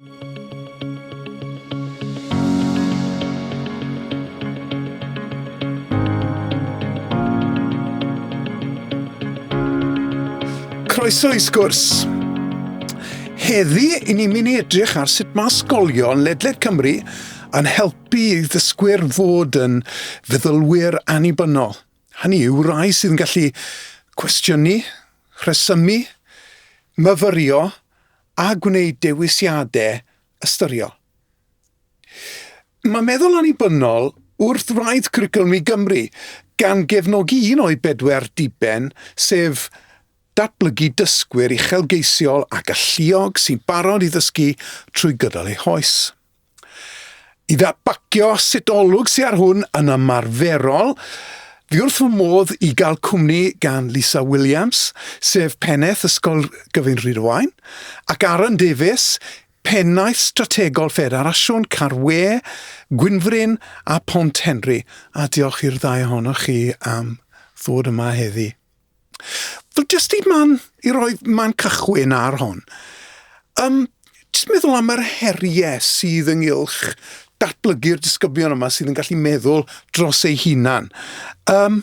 Croeso i sgwrs. Heddi, i ni'n mynd i edrych ar sut mae ysgolion ledled Cymru yn helpu i ddysgwyr fod yn feddylwyr annibynnol. Hynny yw rai sydd yn gallu cwestiynu, rhesymu, myfyrio a gwneud dewisiadau ystyriol. Mae meddwl annibynnol wrth wraidd Cwricwlwm i Gymru, gan gefnogi un o'i bedwar diben, sef datblygu dysgwyr uchelgeisiol a galluog sy'n barod i ddysgu trwy gydol eu hoes. I ddadbagio sut olwg sy ar hwn yn ymarferol, fi wrth fy modd i gael cwmni gan Lisa Williams, sef Pennaeth Ysgol Gyfun Rhydywaun, ac Aaron Davies, Pennaeth Strategol Ffederasiwn Carwe, Gwynfryn a Phont Henry, a diolch i'r ddau ohonoch chi am ddod yma heddi. Wel, jyst i man, i roi man cychwyn ar hon, um, jyst meddwl am yr heriau sydd ynghylch datblygu'r disgyblion yma sydd yn gallu meddwl dros eu hunan. Um,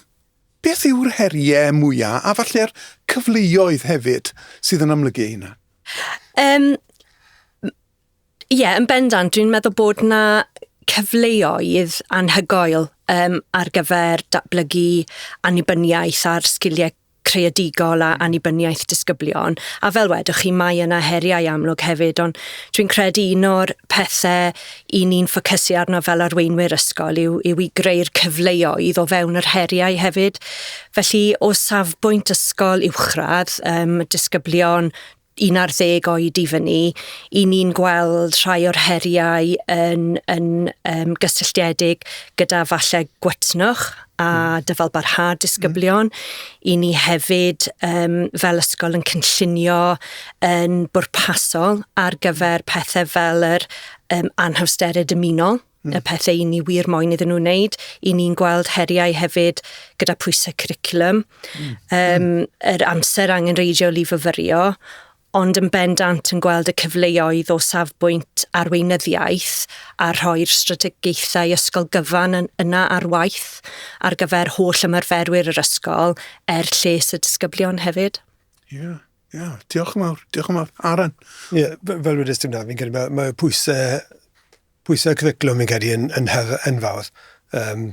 beth yw'r heriau mwyaf a falle'r cyfleoedd hefyd sydd yn amlygu hynna? Um, Ie, yn bendant. Dwi'n meddwl bod 'na cyfleoedd anhygoel um, ar gyfer datblygu annibyniaeth a'r sgiliau creadigol a annibyniaeth disgyblion. A fel wedwch chi, mae yna heriau amlwg hefyd, ond dwi'n credu un o'r pethau i ni'n ffocysu arno fel arweinwyr ysgol yw, yw i greu'r cyfleoedd o fewn yr heriau hefyd. Felly, o safbwynt ysgol uwchradd, um, disgyblion 11 oed i fyny, i ni'n gweld rhai o'r heriau yn, yn um, gysylltiedig gyda falle gwetnwch a hmm. dyfalbarhad disgyblion. Mm. I ni hefyd, um, fel ysgol, yn cynllunio yn bwrpasol ar gyfer pethau fel yr um, anhawsterau dymunol. y pethau i ni wir moyn iddyn nhw wneud. I ni'n gweld heriau hefyd gyda pwysau curriculum, mm. um, yr amser angenreidiol i fyfyrio, ond yn bendant yn gweld y cyfleoedd o safbwynt arweinyddiaeth a rhoi'r strategaethau ysgol gyfan yn, yna ar waith ar gyfer holl ymarferwyr yr ysgol er lles y disgyblion hefyd. Ie. Yeah. Ia, diolch yn fawr, diolch yn fawr. Aaron? Ie, fel wedi dim na, fi'n credu mae, mae pwysau, pwysau cyfeclwm fi'n credu yn, yn, hef, yn fawr. Um,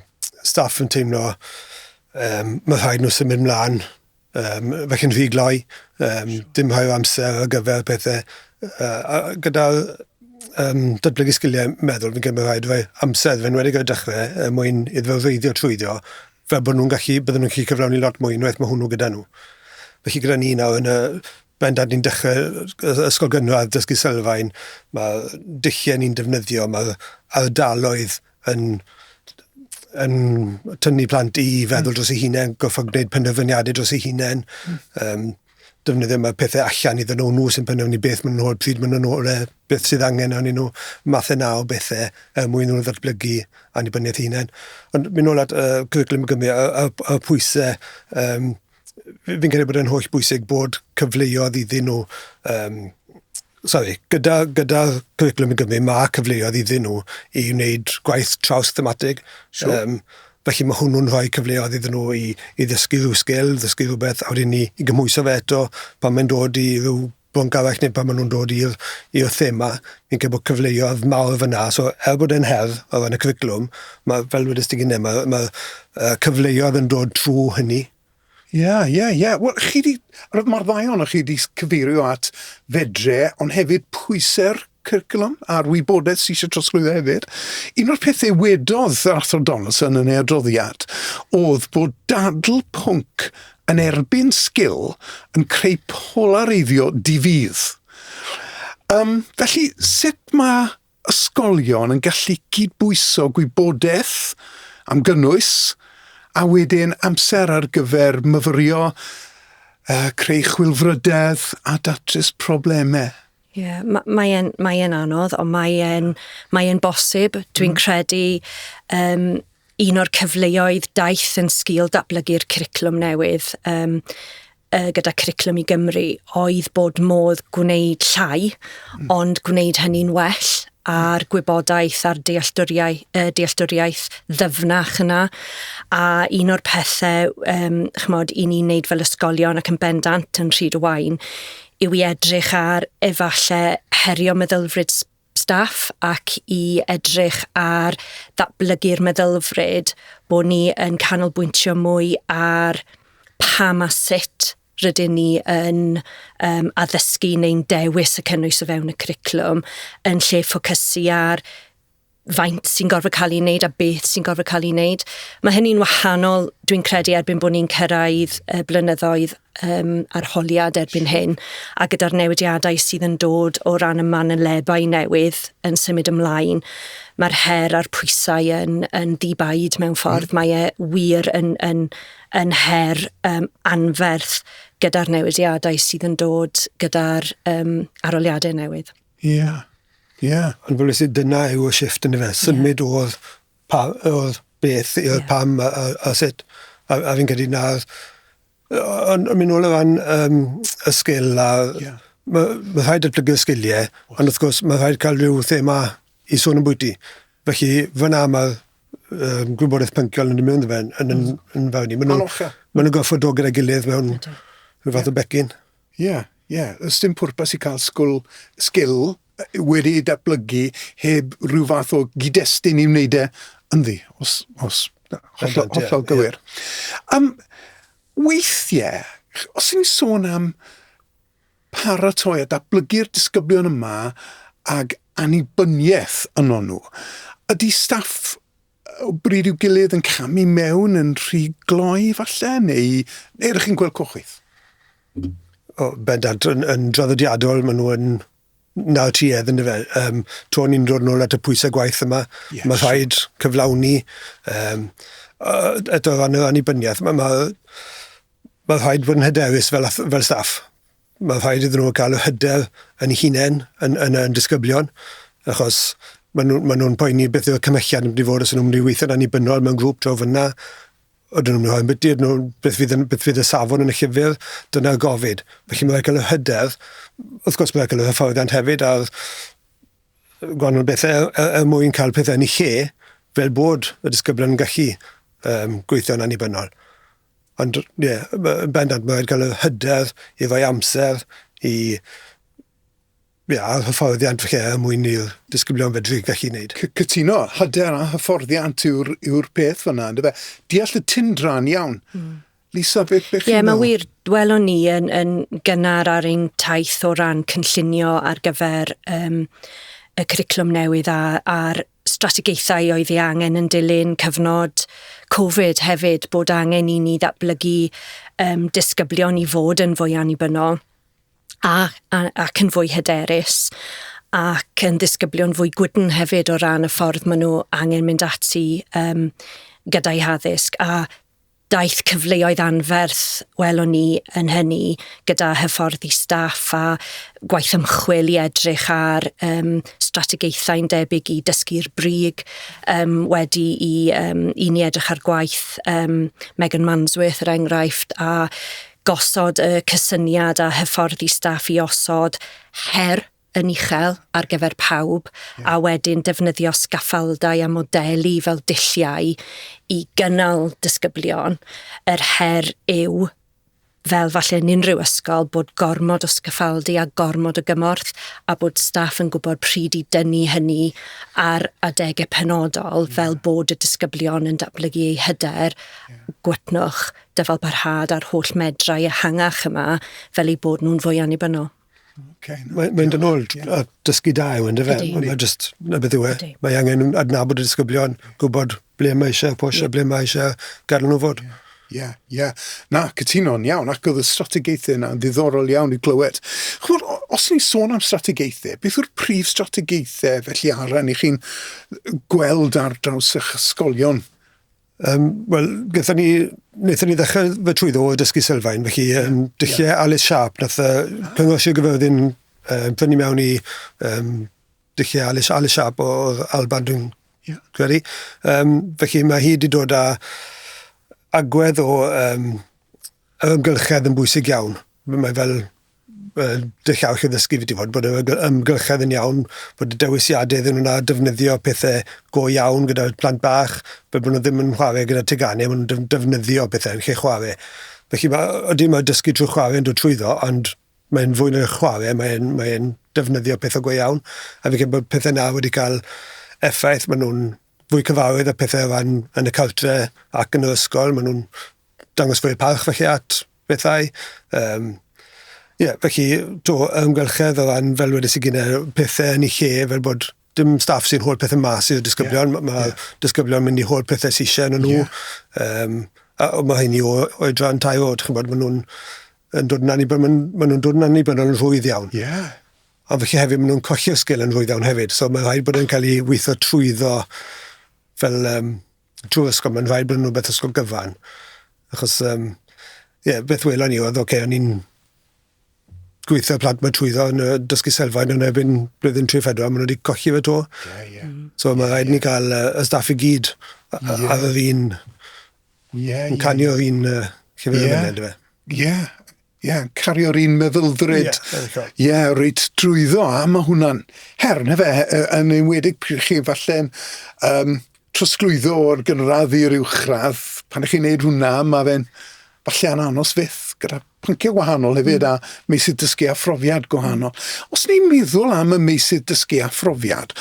staff yn teimlo um, mae rhaid nhw symud mlaen um, fe chi'n rhy gloi, um, dim rhai o amser ar gyfer pethau. Uh, gyda um, datblygu sgiliau meddwl, fi'n credu mae rhaid fe amser, fe'n wedi gyda dechrau, er mwyn iddo reiddio trwyddo, fel bod nhw'n gallu, bydden nhw'n gallu cyflawni lot mwy unwaith mae hwnnw gyda nhw. Felly gyda ni nawr yn y bendant ni'n dechrau ysgol gynradd dysgu sylfaen, mae dulliau ni'n defnyddio, mae ardaloedd yn, yn tynnu plant i feddwl hmm. dros ei hunain, goffa gwneud penderfyniadau dros ei hunain. Um, hmm. defnyddio mae pethau allan iddyn nhw, nhw sy'n penderfynu beth maen nhw'n hoel, pryd maen nhw'n hoel e, beth sydd angen arnyn nhw, mathau na o bethau er mwyn nhw ddatblygu annibyniaeth hunain. Ond mynd nôl at uh, Cwricwlwm y Gymru, y, y, y pwysau, um, fi'n credu bod e'n holl bwysig bod cyfleodd iddyn nhw um, Sori, gyda, gyda Cwricwlwm i Gymru, mae cyfleoedd iddyn nhw i wneud gwaith traws-thematig. Sure. Um, felly mae hwnnw'n rhoi cyfleoedd iddyn nhw i, i ddysgu rhyw sgil, ddysgu rhywbeth, a wedyn ni i gymhwyso fe eto pan mae'n dod i rhyw bwnc arall neu pan maen nhw'n dod i'r i'r thema, fi'n credu bod cyfleoedd mawr fyna. So, er bod e'n her o ran y cwricwlwm, mae, fel wedys ti gynne, mae, mae uh, cyfleoedd yn dod trwy hynny. Ie, ie, ie. Wel, chi 'di... roedd mor dda ohonoch chi 'di cyfeirio at fedre, ond hefyd pwysau'r cwricwlwm a'r wybodaeth sy eisiau trosglwyddo hefyd. Un o'r pethau wedodd yr Athro Donaldson yn ei adroddiad oedd bod dadl pwnc yn erbyn sgil yn creu polareiddio di-fudd. Um, felly, sut mae ysgolion yn gallu cydbwyso gwybodaeth am gynnwys a wedyn amser ar gyfer myfyrio, yy creu chwilfrydedd a datrys problemau. Ie, ma- mae e'n mae e'n anodd ond mae e'n mae e'n bosib. Dwi'n mm. credu yym Un o'r cyfleoedd daeth yn sgil datblygu'r cwricwlwm newydd um, gyda Cwricwlwm i Gymru oedd bod modd gwneud llai, mm. ond gwneud hynny'n well a'r gwybodaeth a'r dealltwriaeth, uh, dealltwriaeth ddyfnach yna. A un o'r pethau, um, chymod, i ni'n neud fel ysgolion ac yn bendant yn rhyd y wain, yw i edrych ar efallai herio meddylfryd staff ac i edrych ar ddatblygu'r meddylfryd bod ni yn canolbwyntio mwy ar pam a sut rydyn ni yn um, addysgu neu'n dewis y cynnwys o fewn y cwricwlwm yn lle ffocysu ar faint sy'n gorfod cael ei wneud a beth sy'n gorfod cael ei wneud. Mae hynny'n wahanol, dwi'n credu, erbyn bod ni'n cyrraedd y blynyddoedd um, arholiad erbyn hyn, a gyda'r newidiadau sydd yn dod o ran y manylebau newydd yn symud ymlaen, mae'r her a'r pwysau yn, yn ddibaid mewn ffordd. Mm. Mae e wir yn, yn, yn her um, anferth gyda'r newidiadau sydd yn dod gyda'r um, aroliadau newydd. Ie, yeah. ie. Yeah. Ond fel ys i, dyna yw y shift yn y fe. Symud yeah. o'r Pa oedd beth, oedd yeah. pam a, a, a sut. A, a fi'n credu na... Ond mynd nôl o fan um, y sgil a... Yeah. Mae ma rhaid datblygu y sgiliau, ond wrth gwrs mae rhaid cael rhyw thema i sôn yn bwyty. Felly fyna mae'r um, gwybodaeth pynciol yn dod mewn yn, yn, yn, yn fawr ni. Maen nhw'n ma nhw goffod dod gyda'i gilydd mewn rhyw fath o becyn. Ie, yeah, ie. Yeah. Ys dim pwrpas i cael sgwl, sgil wedi ei datblygu heb rhyw fath o gyd-destun i wneud e ynddi, os, os hollol, hollol gywir. Yeah. Um, weithiau, os ni'n sôn am paratoi a datblygu'r disgyblion yma ag annibyniaeth yno nhw, ydy staff o bryd i'w gilydd yn camu mewn yn rhy gloi falle, neu, neu ydych chi'n gweld cochwyth? O, bendant, yn, yn draddodiadol, maen nhw yn na tuedd yn dyfe. Um, to ni'n dod nôl at y pwysau gwaith yma, yes. mae rhaid cyflawni um, eto fan yr annibyniaeth. Mae, mae, mae rhaid bod yn hyderus fel, fel staff. Mae'n rhaid iddyn nhw cael yr hyder yn hunain yn, yn, yn disgyblion, achos maen nhw'n ma nhw poeni beth yw'r cymhelliad yn mynd i fod os nhw'n mynd i weithio'n annibynnol mewn grŵp draw fyna. Ydyn nhw'n rhoi byty, ydyn nhw, beth fydd, yn, beth fydd y safon yn y llyfr, dyna'r gofid. Felly mae'n rhaid cael yr hyder, wrth gwrs mae'n rhaid cael yr hyfforddiant hefyd a'r gwahanol bethau er, er, er mwyn cael pethau yn ei lle fel bod y disgyblion yn gallu um, gweithio'n annibynnol. Ond, ie, yn bendant, mae wedi cael y hyder efo'i amser i ie, a'r hyfforddiant falle er mwyn i'r disgyblion fedru gallu wneud. C cytuno, hyder a hyfforddiant yw'r yw peth fyna, yndyfe? Deall y tindran iawn. Mm. Lisa, beth chi'n meddwl? Ie, mae wir, welwn ni yn, yn gynnar ar ein taith o ran cynllunio ar gyfer um, y curriculum newydd a, a'r strategaethau oedd ei angen yn dilyn cyfnod Covid hefyd, bod angen i ni ddatblygu um, disgyblion i fod yn fwy annibynnol a, a, ac yn fwy hyderus ac yn ddisgyblion fwy gwydn hefyd o ran y ffordd maen nhw angen mynd ati um, gyda'u haddysg a daeth cyfleoedd anferth, welwn ni yn hynny, gyda hyfforddi staff a gwaith ymchwil i edrych ar um, strategaethau'n debyg i dysgu'r brig um, wedi i, um, i ni edrych ar gwaith um, Megan Mansworth, er enghraifft, a gosod y cysyniad a hyfforddi staff i osod her yn uchel ar gyfer pawb yeah. a wedyn defnyddio sgaffaldau a modelu fel dulliau i gynnal disgyblion. Yr her yw fel falle yn unrhyw ysgol bod gormod o sgaffaldu a gormod o gymorth a bod staff yn gwybod pryd i dynnu hynny ar adegau penodol yeah. fel bod y disgyblion yn datblygu eu hyder, yeah. gwetnwch, dyfal parhad a'r holl medrau ehangach yma fel eu bod nhw'n fwy annibynnol. Okay, no, Mae'n mynd yn ôl yeah. a dysgu da yw yn dyfe. Mae just, na beth yw e. Mae angen adnabod y disgyblion, gwybod ble mae eisiau pwysio, yeah. ble mae eisiau gadw nhw fod. Yeah. Ie, yeah, ie. Yeah. Na, cytuno'n iawn, ac oedd y strategaethau yna yn ddiddorol iawn i glywed. Chymod, os ni'n sôn am strategaethau, beth yw'r prif strategaethau felly aran i chi'n gweld ar draws eich ysgolion Um, Wel, gyda ni, wnaethon ni ddechrau fy trwy ddo dysgu sylfaen, felly um, dulliau yeah. Alice Sharp, nath uh, cyngor Sir Gyfyrddin um, prynu mewn i um, dulliau Alice, Alice Sharp o Alban, dwi'n yeah. credu. Um, felly mae hi wedi dod â agwedd o um, ymgylchedd yn bwysig iawn. Mae fel dechau chi ddysgu fi fod bod y ymgylchedd yn iawn, bod y dewisiadau iddyn nhw na defnyddio pethau go iawn gyda'r plant bach, fel bod nhw ddim yn chwarae gyda teganau, maen nhw'n defnyddio pethau yn lle chwarae. Felly mae, ydy mae dysgu trwy chwarae yn dod trwyddo, ond mae'n fwy na'r chwarae, mae'n mae defnyddio pethau go iawn. A fi'n credu bod pethau na wedi cael effaith, maen nhw'n fwy cyfarwydd â pethau o ran yn y cartre ac yn yr ysgol. Maen nhw'n dangos fwy o parch felly at bethau. Um, Ie, yeah, felly, to, ymgylchedd o ran, fel wedi sy'n gyda pethau yn ei lle, fel bod dim staff sy'n holl pethau mas i'r disgyblion. Yeah. Mae yeah. disgyblion mynd i holl pethau sy'n eisiau yn nhw. Yeah. Um, a mae hynny o oedran tair oed, chi'n bod, maen nhw'n yn dod yn annibynnol, maen nhw'n dod yn annibynnol yn rhwydd iawn. Yeah. Ond felly hefyd maen nhw'n colli'r sgil yn rhwydd iawn hefyd. So mae'n rhaid bod e'n cael ei weithio trwyddo fel um, trwy'r ysgol. Mae'n rhaid bod yn rhywbeth ysgol gyfan. Achos, um, yeah, beth welon ni oedd, oce, okay, o'n i'n gweithio plant mae trwyddo yn y dysgu selfaid yn erbyn blwyddyn 3-4, maen nhw wedi colli fe to. Yeah, yeah. Mm. So mae rhaid yeah, ni cael uh, y staff i gyd yeah. ar yr un, yeah, yn canio yeah. un uh, llyfr yeah. yn mynd, Ie, yeah. Ie, yeah, cario'r un meddylfryd. Ie, yeah, Ie, yeah, reit drwyddo, a mae hwnna'n her, na fe, e, yn enwedig pryd chi falle'n um, trosglwyddo o'r gynradd i'r uwchradd. Pan ych chi'n neud hwnna, mae fe'n falle yn anos fyth gyda pynciau gwahanol hefyd mm. a meysydd dysgu a phrofiad gwahanol. Mm. Os ni'n meddwl am y meysydd dysgu a phrofiad,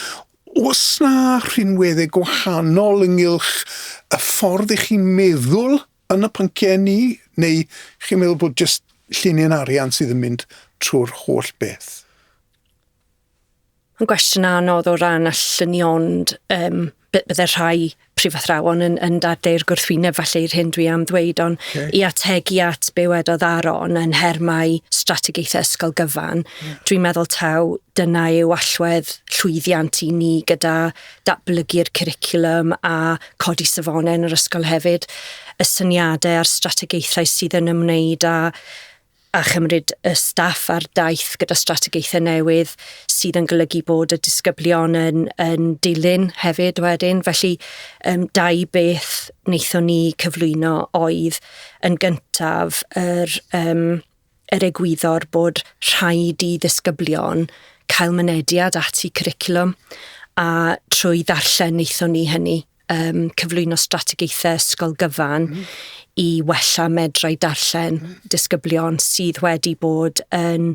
os na rhinweddau gwahanol ynghylch y ffordd i chi'n meddwl Yn y pynciau ni, neu chi'n meddwl bod jyst llinyn arian sydd yn mynd trwy'r holl beth? Mae'n gwestiwn anodd o ran allynnu ond um, bydde rhai prifathrawon yn, yn dadleu'r gwrthwyneb falle i'r hyn dwi am ddweud, ond okay. i ategu at be wedodd Aron yn hermau strategaethau ysgol gyfan, yeah. dwi'n meddwl taw dyna yw allwedd llwyddiant i ni gyda datblygu'r cwricwlwm a codi safonau yn yr ysgol hefyd, y syniadau a'r strategaethau sydd yn ymwneud â a chymryd y staff ar daith gyda strategaethau newydd sydd yn golygu bod y disgyblion yn, yn dilyn hefyd wedyn. Felly, um, dau beth wnaethon ni cyflwyno oedd yn gyntaf yr um, er egwyddor bod rhaid i ddisgyblion cael mynediad at y cwricwlwm a trwy ddarllen wnaethon ni hynny um, cyflwyno strategaethau ysgol gyfan mm. i wella medrau darllen mm. disgyblion sydd wedi bod yn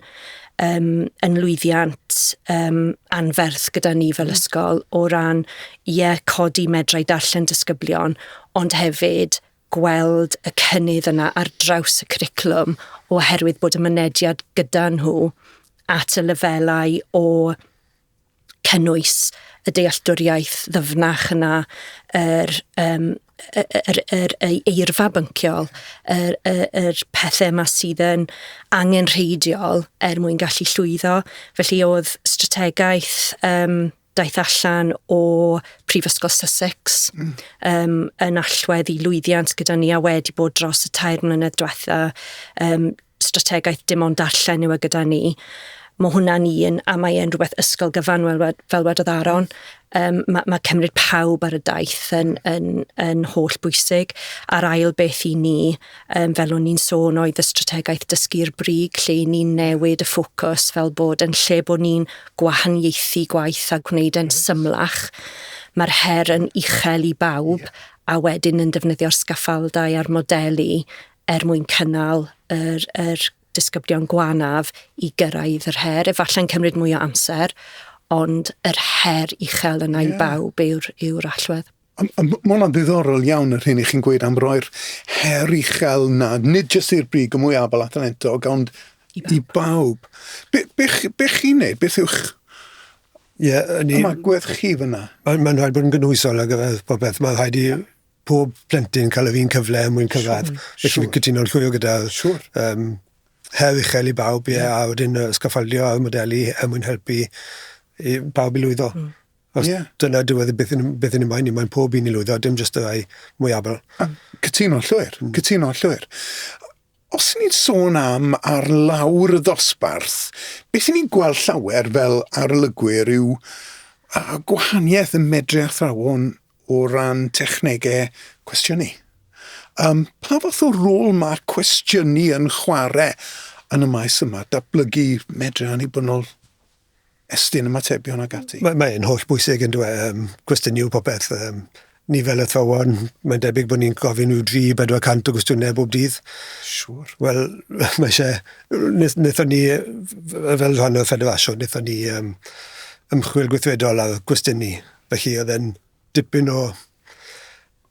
um, yn lwyddiant um, anferth gyda ni fel mm. ysgol o ran, ie, yeah, codi medrau darllen disgyblion, ond hefyd gweld y cynnydd yna ar draws y cwricwlwm oherwydd bod y mynediad gyda nhw at y lefelau o cynnwys y dealltwriaeth ddyfnach yna, yr, um, yr, yr, yr eirfa bynciol, yr, yr, yr pethau yma sydd yn angenrheidiol er mwyn gallu llwyddo. Felly oedd strategaeth um, daeth allan o Prifysgol Sussex mm. um, yn allwedd i lwyddiant gyda ni a wedi bod dros y tair mlynedd diwetha um, strategaeth dim ond darllen yw e gyda ni. Mae hwnna'n un, a mae e'n rhywbeth ysgol gyfan fel, fel wedodd Aron. Um, mae, mae cymryd pawb ar y daith yn, yn, yn holl bwysig. A'r ail beth i ni, um, fel o'n i'n sôn, oedd y strategaeth dysgu'r brig, lle i ni'n newid y ffocws fel bod yn lle bod ni'n gwahaniaethu gwaith a gwneud e'n symlach, mae'r her yn uchel i bawb, a wedyn yn defnyddio'r sgaffaldau a'r modelu er mwyn cynnal yr, yr disgyblion gwanaf i gyrraedd yr her. Efallai'n cymryd mwy o amser, ond yr her uchel yna yeah. i bawb yw'r yw allwedd. Mae hwnna'n ddiddorol iawn yr hyn i chi'n gweud am roi'r her uchel na, nid jyst i'r brig y mwy abal a thalentog, ond i bawb. I bawb. Be, be, be chi'n neud? Beth yw'ch Ie, yeah, ni... Ymagwedd chi fyna? Mae'n ma rhaid bod yn gynhwysol ar gyfer popeth. Mae'n rhaid i yeah. pob plentyn cael yr un cyfle yn mwyn cyfad. Sure, Felly sure. cytuno'n llwyr gyda... Sure. Um, her uchel i bawb, ie, yeah. a wedyn uh, sgaffaldio ar modelu er mwyn helpu i bawb i lwyddo. Mm. Os yeah. dyna dywed e beth yn, beth yn ymwain ni, mae'n pob un i lwyddo, dim jyst y ddau mwyabl. Cytuno llwyr, mm. cytuno llwyr. Os ni'n sôn am ar lawr y ddosbarth, beth ni'n gweld llawer fel arolygwyr yw a gwahaniaeth yn medru athrawon o ran technegau cwestiynu. Um, pa fath o rôl mae'r cwestiynu yn chwarae yn y maes yma, datblygu medru annibynnol estyn ymatebion ac ati. Mae, mae e'n holl bwysig yn dwe, um, cwestiynu popeth. Um, ni fel athrawon, mae'n debyg bod ni'n gofyn i'w 3-400 o gwestiynau bob dydd. Siwr. Wel, mae eisiau... Nethon ni, fel rhan o'r ffederasiwn, nethon ni um, ymchwil gweithredol ar gwestiynu. Felly oedd e'n dipyn o...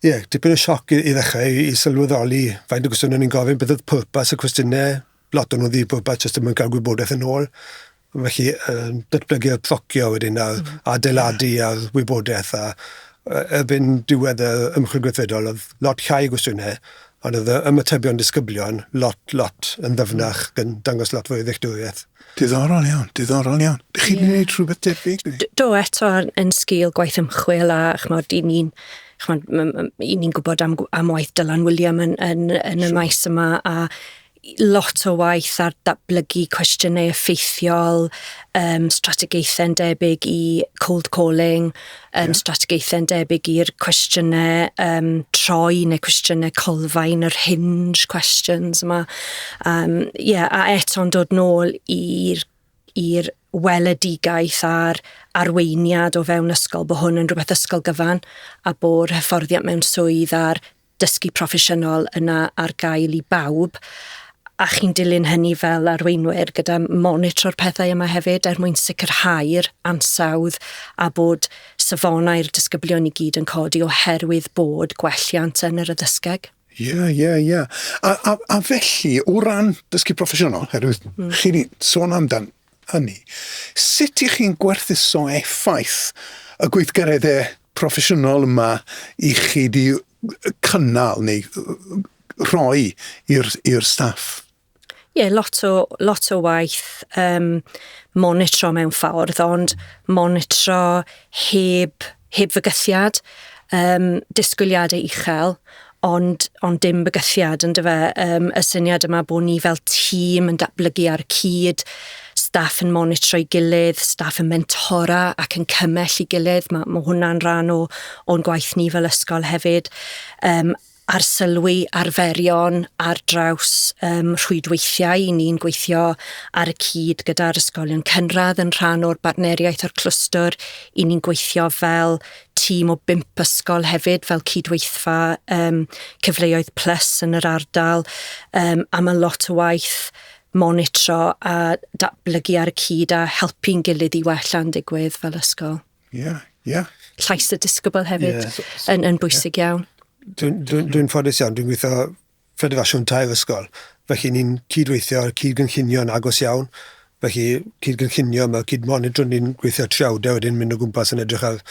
Ie, yeah, dipyn o sioc i, i ddechrau i, i sylweddoli faint o gwestiynau ni'n gofyn, beth oedd pwrpas y cwestiynau, lot o nhw ddim bod jyst ddim yn cael gwybodaeth yn ôl. Felly, um, datblygu'r procio wedyn a'r mm. adeiladu a'r wybodaeth a erbyn diwedd y ymchwil gweithredol oedd lot llai gwestiynau ond oedd ymatebion disgyblion lot, lot yn ddyfnach mm. yn dangos lot fwy o ddealltwriaeth. Diddorol iawn, diddorol iawn. Dych chi'n yeah. gwneud rhywbeth debyg? Do, eto yn sgil gwaith ymchwil a chmod, i ni'n i ni'n gwybod am, am waith Dylan William yn, yn, yn y maes yma a lot o waith ar datblygu cwestiynau effeithiol, um, strategaethau'n debyg i cold calling, um, yeah. strategaethau'n debyg i'r cwestiynau um, troi neu cwestiynau colfain, yr hinge questions yma. Um, yeah, a eto'n dod nôl i'r i'r weledigaeth a'r arweiniad o fewn ysgol bod hwn yn rhywbeth ysgol gyfan a bod hyfforddiant mewn swydd a'r dysgu proffesiynol yna ar gael i bawb, a chi'n dilyn hynny fel arweinwyr gyda monitro'r pethau yma hefyd er mwyn sicrhau'r ansawdd a bod safonau'r disgyblion i gyd yn codi oherwydd bod gwelliant yn yr addysgeg. Ie, yeah, ie, yeah, ie. Yeah. A, a, a felly, o ran dysgu proffesiynol, herwydd mm. chi wedi sôn amdan hynny. Sut y'ch chi'n gwerthuso effaith y gweithgaredde proffesiynol yma y'ch chi 'di cynnal neu rhoi i'r staff? Ie, lot o, lot o waith um, monitro mewn ffordd, ond monitro heb Heb fygythiad, yym, disgwyliadau uchel, ond, ond dim bygythiad, yn dyfa. Um, y syniad yma bod ni fel tîm yn datblygu ar y cyd, staff yn monitro'i gilydd, staff yn mentora ac yn cymell i gilydd. Mae, mae hwnna'n rhan o, o'n gwaith ni fel ysgol hefyd. Um, arsylwi arferion ar draws um, rhwydweithiau. I ni'n gweithio ar y cyd gyda'r ysgolion cynradd yn rhan o'r bartneriaeth o'r clwstwr. I ni'n gweithio fel tîm o bimp ysgol hefyd fel cydweithfa um, cyfleoedd plus yn yr ardal um, a mae lot o waith monitro a datblygu ar y cyd a helpu'n gilydd i wella'n digwydd fel ysgol. Yeah, yeah. Llais y disgybl hefyd yeah, so, so, yn, yn bwysig yeah. iawn. Dwi'n dwi, dwi ffodus iawn, dwi'n gweithio ffedifasiwn tair ysgol. Felly ni'n cydweithio ar cyd-gynllunio'n agos iawn. Felly cyd-gynllunio, mae cyd-monitrwn ni'n gweithio triawdau wedyn mynd o gwmpas yn edrych ar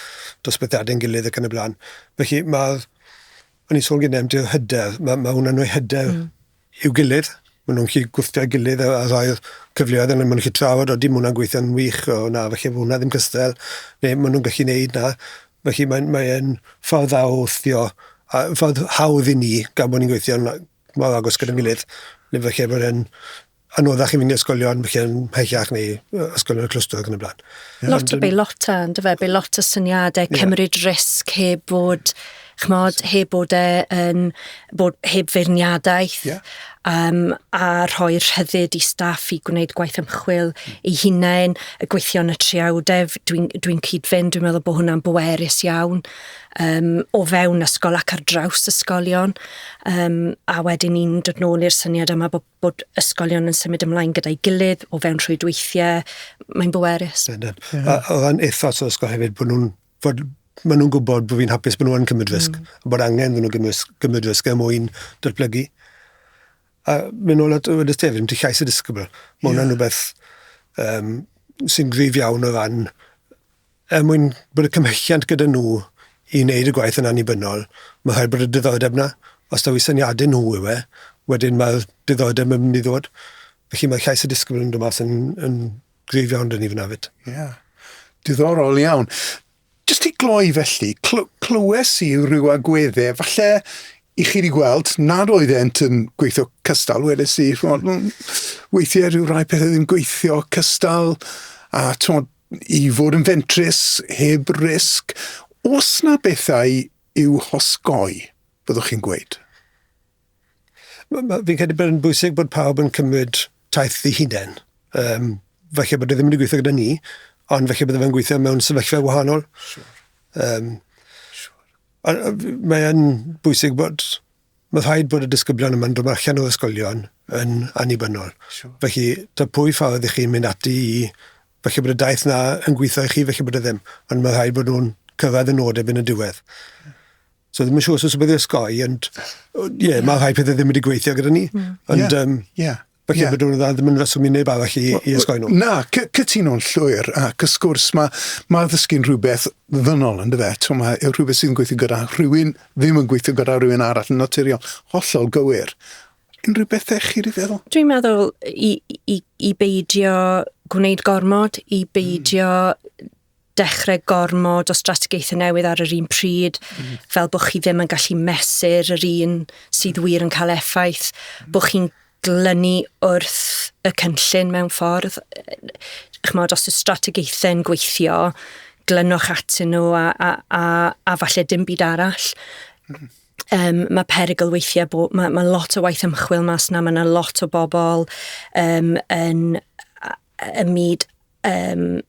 dosbythiadau'n gilydd ac yn y blaen. Felly mae, o'n i'n sôn gyda am hyder, mae, mae hwnna'n rhoi hyder mm. i'w gilydd. Maen nhw'n gallu gwthio'i gilydd a rhoi'r cyfleoedd yna, maen nhw'n gallu trafod, odi ma' hwnna'n gweithio'n wych, o na falle fo' hwnna ddim cystal, neu maen nhw'n gallu neud 'na. Felly mae'n mae e'n ffordd dda o wthio a ffordd hawdd i ni gan bo' ni'n gweithio'n a- mor agos gyda'n gilydd ne' falle bod e'n anoddach i mynd i ysgolion falle yn mhellach neu yy ysgolion y clwstwr ac yn y bla'n. Lot o beilota yndyfe? Beilota syniade, cymryd risg heb fod ch'mod, heb bod e yn bod heb feirniadaeth... Ie. ...yym a rhoi'r rhyddid i staff i gwneud gwaith ymchwil eu hunain, y gweithio yn y triawdef, dwi'n dwi'n cyd-fynd, dwi'n meddwl bo' hwnna'n bwerus iawn yym o fewn ysgol ac ar draws ysgolion yym a wedyn ni'n dod nôl i'r syniad yma bo' bod ysgolion yn symud ymlaen gyda'i gilydd o fewn rhwydweithie, mae'n bwerus. Yndyn. Ie. A o ran ethos yr ysgol hefyd bo' nw'n fod maen nhw'n gwybod bod fi'n hapus bod nhw'n cymryd hmm. risg, mm. bod angen iddyn nhw gymryd, gymryd risg er mwyn datblygu. A mynd ôl at y wedi tefyd, ti llais y disgybl. Mae hwnna'n yeah. rhywbeth um, sy'n grif iawn o ran er mwyn bod y cymhelliant gyda nhw i wneud y gwaith yn annibynnol, mae rhaid bod y diddordeb na. Os da fi syniadau nhw yw e, wedyn mae'r diddordeb yn mynd i ddod. Felly mae llais y disgybl yn dod mas yn, yn Gryf iawn dyn ni fyna fyd. Ie. Yeah. Diddorol iawn. Just i gloi felly, cl clywes i rhyw agweddau, falle i chi wedi gweld nad oedd ent yn gweithio cystal, wedes i, chmod, mm, weithiau rhyw rai pethau ddim gweithio cystal, a chmod, i fod yn fentrus heb risg, os na bethau i'w hosgoi, byddwch chi'n gweud? M- m- fi'n credu bod e'n bwysig bod pawb yn cymryd taith i hunain. Um, falle bod e ddim wedi gweithio gyda ni, ond falle bod e'n gweithio mewn sefyllfa wahanol. Sure. Um, sure. Mae'n bwysig bod... Mae rhaid bod y disgyblion yma'n dod allan o'r ysgolion yn annibynnol. Sure. Felly, ta pwy ffordd i chi'n mynd ati i... Felly bod y daith na yn gweithio i chi, felly bod e ddim. Ond mae rhaid bod nhw'n cyrraedd y nod erbyn y diwedd. Yeah. So ddim yn siŵr os bydd ysgoi, ond ie, yeah, mae rhai pethau ddim wedi gweithio gyda ni. Mm. Ond, yeah. Um, yeah. Felly yeah. byddwn dda ddim yn reswm i neb arall i, i ysgoi nhw. Na, cytuno'n llwyr, ac ys gwrs mae, ma ddysgu'n rhywbeth ddynol yn dyfa. Twm, mae rhywbeth sy'n gweithio gyda rhywun, ddim yn gweithio gyda rhywun arall yn naturiol. Hollol gywir. Unrhyw bethau chi wedi feddwl? Dwi'n meddwl i, i, i beidio gwneud gormod, i beidio mm dechrau gormod o strategaethau newydd ar yr un pryd, mm. fel bod chi ddim yn gallu mesur yr un sydd wir yn cael effaith, mm. bod chi'n glynu wrth y cynllun mewn ffordd. Chymod, os y strategaethau yn gweithio, glynwch atyn nhw a, a, a, a falle dim byd arall. Mm. Um, mae perygl weithiau bod, mae, mae lot o waith ymchwil mas na, mae yna lot o bobl um, yn y myd um,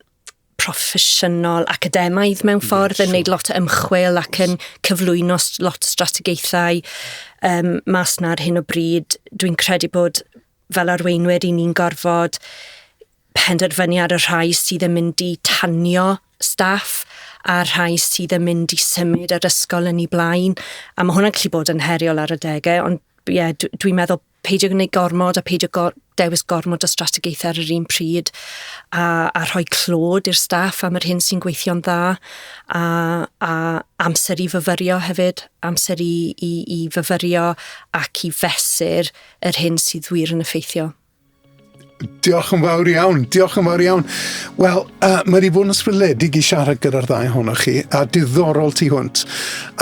proffesiynol academaidd mewn ffordd, yn neud lot o ymchwil ac yn cyflwyno lot o strategaethau um, mas na ar hyn o bryd. Dwi'n credu bod fel arweinwyr i ni'n gorfod penderfynu ar y rhai sydd yn mynd i tanio staff a rhai sydd yn mynd i symud yr ysgol yn ei blaen. A mae hwnna'n gallu bod yn heriol ar y degau, ond ie, dwi'n meddwl peidio gwneud gormod a peidio gor dewis gormod o strategaethau ar yr un pryd a, a rhoi clod i'r staff am yr hyn sy'n gweithio'n dda a, a amser i fyfyrio hefyd, amser i, i, i fyfyrio ac i fesur yr hyn sydd wir yn effeithio. Diolch yn fawr iawn, diolch yn fawr iawn. Wel, uh, mae wedi bod yn ysbrydledig i siarad gyda'r ddau ohonoch chi, a diddorol tu hwnt.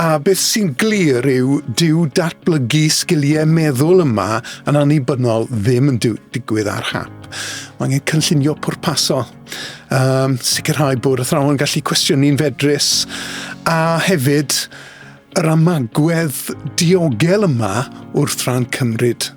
A beth sy'n glir yw, dyw datblygu sgiliau meddwl yma yn annibynnol ddim yn digwydd ar hap. Mae angen cynllunio pwrpasol, um, sicrhau bod athrawon yn gallu cwestiynu'n fedrus, a hefyd yr amagwedd diogel yma wrth ran cymryd